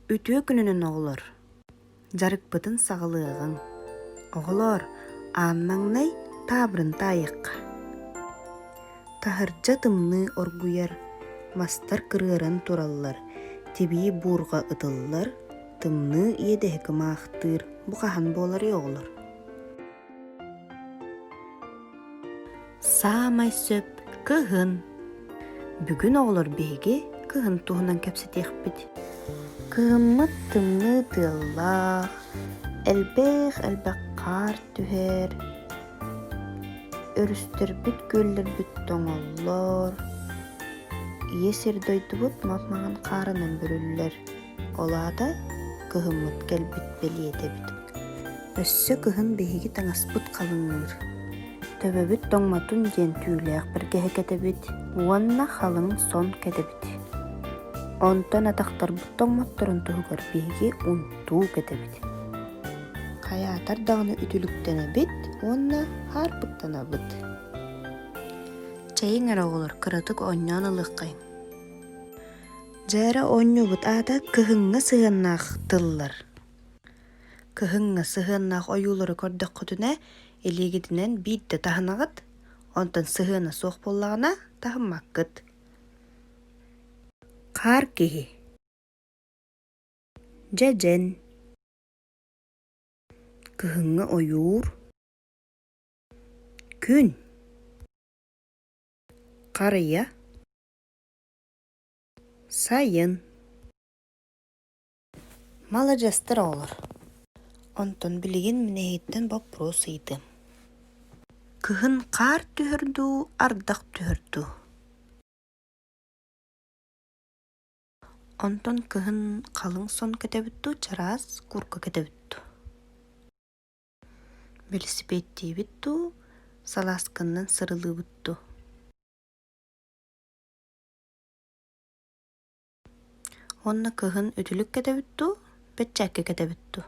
Үтүө күнүнэн, оҕолор! Дьарыкпытын саҕалыаҕыҥ. Оҕолоор, ааннаҥнай таабырын таайыахха. Таһырдьа тымныы оргуйар, мастар кырыаран тураллар, тибии буурга ытыллар, тымныы иэдэһи кымаахтыыр бу хаһан буоларый, оҕолор? Саамай сөп кыһын. Бүгүн оҕолор биһиги кыһын туһунан кэпсэтиэхпит. Кыыммыт тымныы тыаллаах, элбэх элбэх хаар түһэр. Өрүстэрбит күөллэрбит тоҥоллор. Ийэ сир дойдубут мас маҥан хаарынан бүрүллэр. Ол аата кыһыммыт кэлбит бэлиэтэ эбит. Өссө кыһын биһиги таҥаспыт халыҥныыр. Төбөбүт тоҥмотун диэн түүлээх бэргэһэ кэтэбит уонна халыҥ сон кэтэбит. Онтон атахтарбыт тоҥмотторун туһугар биһиги унтуу кэтэбит. Хайаатар даҕаны үтүлүктэнэбит уонна хаарбыттанабыт. Чэйиҥ эрэ оҕолор кыратык оонньоон ылыаххайын. Дьээра оонньуубут аата кыһыҥҥы сыһыаннаах тыллар. Кыһыҥҥы сыһыаннаах ойуулары көрдөххүтүнэ илиигитинэн биирдэ таһынаҕыт, онтон сыһыана суох буоллаҕына таһыммаккыт. Хаар киһи Дьэдьэн Кыһыҥҥы ойуур Күн Харыйа Сайын маладьыастар оҕолор онтон билигин мин эһиттэн боппуруос ыйдым кыһын хаар түһэр дуу ардах түһэр дуу онтон кыһын халыҥ сон көтөбүт дуу чараас курка көтөбүт дуу бэлисипиэттиибит дуу салаасканнан сырылыыбыт дуу Уонна кыһын үтүлүк кэтэбит дуу, бэччээкки кэтэбит дуу?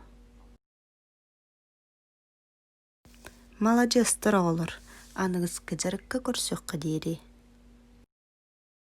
Маладьыастар оҕолор, аныгыскы дьарыкка көрсүөххэ диэри